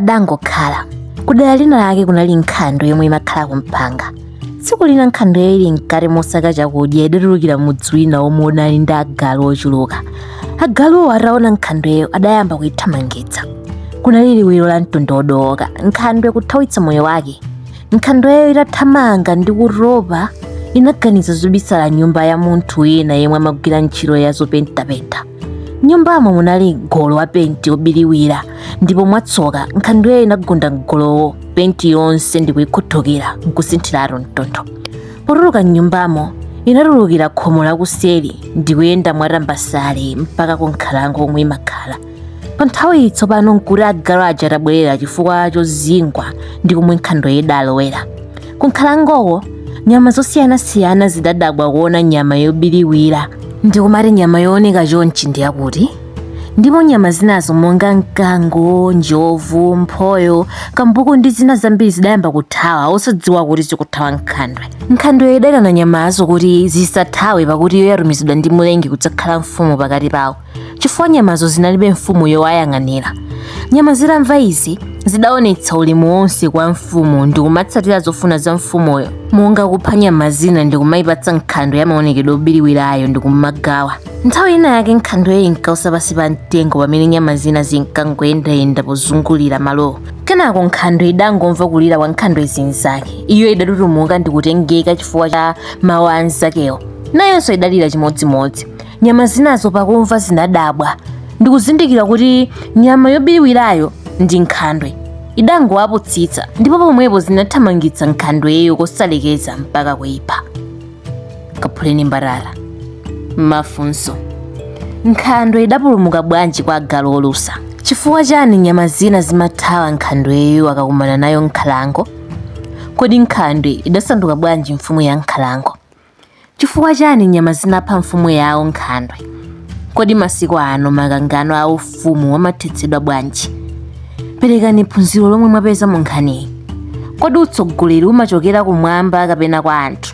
padangokhala kudera lina lake kunali nkhandwe yomwe imakhala kumpanga tsiku lina nkhandweyo ili mkati mosaka chakudya idatulukira mudzi wina omwe unali ndi agalu ochuluka agaluwo ataona nkhandweyo adayamba kuithamangitsa kunali liwiro la mtondo wodooka nkhandwe kuthawitsa moyo wake nkhandweyo itathamanga ndi kutopa inaganiza zobisala mnyumba ya munthu wina yemwe amagwira ntchito ya zopentapenta nyumbamo munali golo wa penti wobiriwira ndipo mwatsoka nkhandweyo inagunda mgolowo penti yonse ndikuyikhuthukira nkusinthiratu mtundu potuluka mnyumbamo inatulukira khomo lakuseri ndikuyenda mwatambasale mpaka ku nkhalango komwe imakhala pa nthawiyi tsopano nkuti agalu aja atabwerera chifukwa chozingwa ndi komwe nkhandweyo idalowera Ku nkhalangoko nyama zosiyanasiyana zidadabwa kuona nyama yobiriwira ndikumati nyama yooneka chonchi ndi yakuti ndipo nyama zinazo monga mkango njovu mphoyo kambuku ndi zina zambiri zidayamba kuthawa osadziwa kuti zikuthawa nkhandwe nkhandweyo idaitana nyamazo kuti zisathawe pakuti iyo yatumizidwa ndi mlengi kudzakhala mfumu pakati pawo chifukwa nyamazo zinalibe mfumu yowayang'anira. Nyama zitamva izi, zidaonetsa ulemu wonse kwa mfumu ndi kumatsatira zofuna za mfumuyo, monga kupha nyama zina ndi kumayipatsa nkhandwe ya maonekedwe obiriwirayo ndi kumagawa. Nthawi ina yake nkhandweyo inkausa pansi pa mtengo pamene nyama zina zinkangoyendayenda pozungulira malowo. Kenako nkhandwe idangomva kulira kwa nkhandwe zinzake. Iyo idatutumuka ndi kutengeka chifukwa cha mawu a anzakewo. Nayonso idalira chimodzimodzi. Nyama zinazo pakumva zinadabwa ndikuzindikira kuti nyama yobiriwirayo ndi nkhandwe. Idangowapusitsa ndipo pomwepo zinathamangitsa nkhandweyo kosalekeza mpaka kuipha. Kaphuleni mbatata. Mafunso. Nkhandwe idapulumuka bwanji kwa agalu olusa? Chifukwa chani nyama zina zimathawa nkhandweyo zikakumana nayo m'nkhalango? Kodi nkhandwe idasanduka bwanji mfumu ya nkhalango? Chifukwa chani nyama zinapha mfumu yawo Nkhandwe? Kodi masiku ano makangano a ufumu amathetsedwa bwanji? Perekani phunziro lomwe mwapeza mu nkhaniyi. Kodi utsogoleri umachokera kumwamba kapena kwa anthu?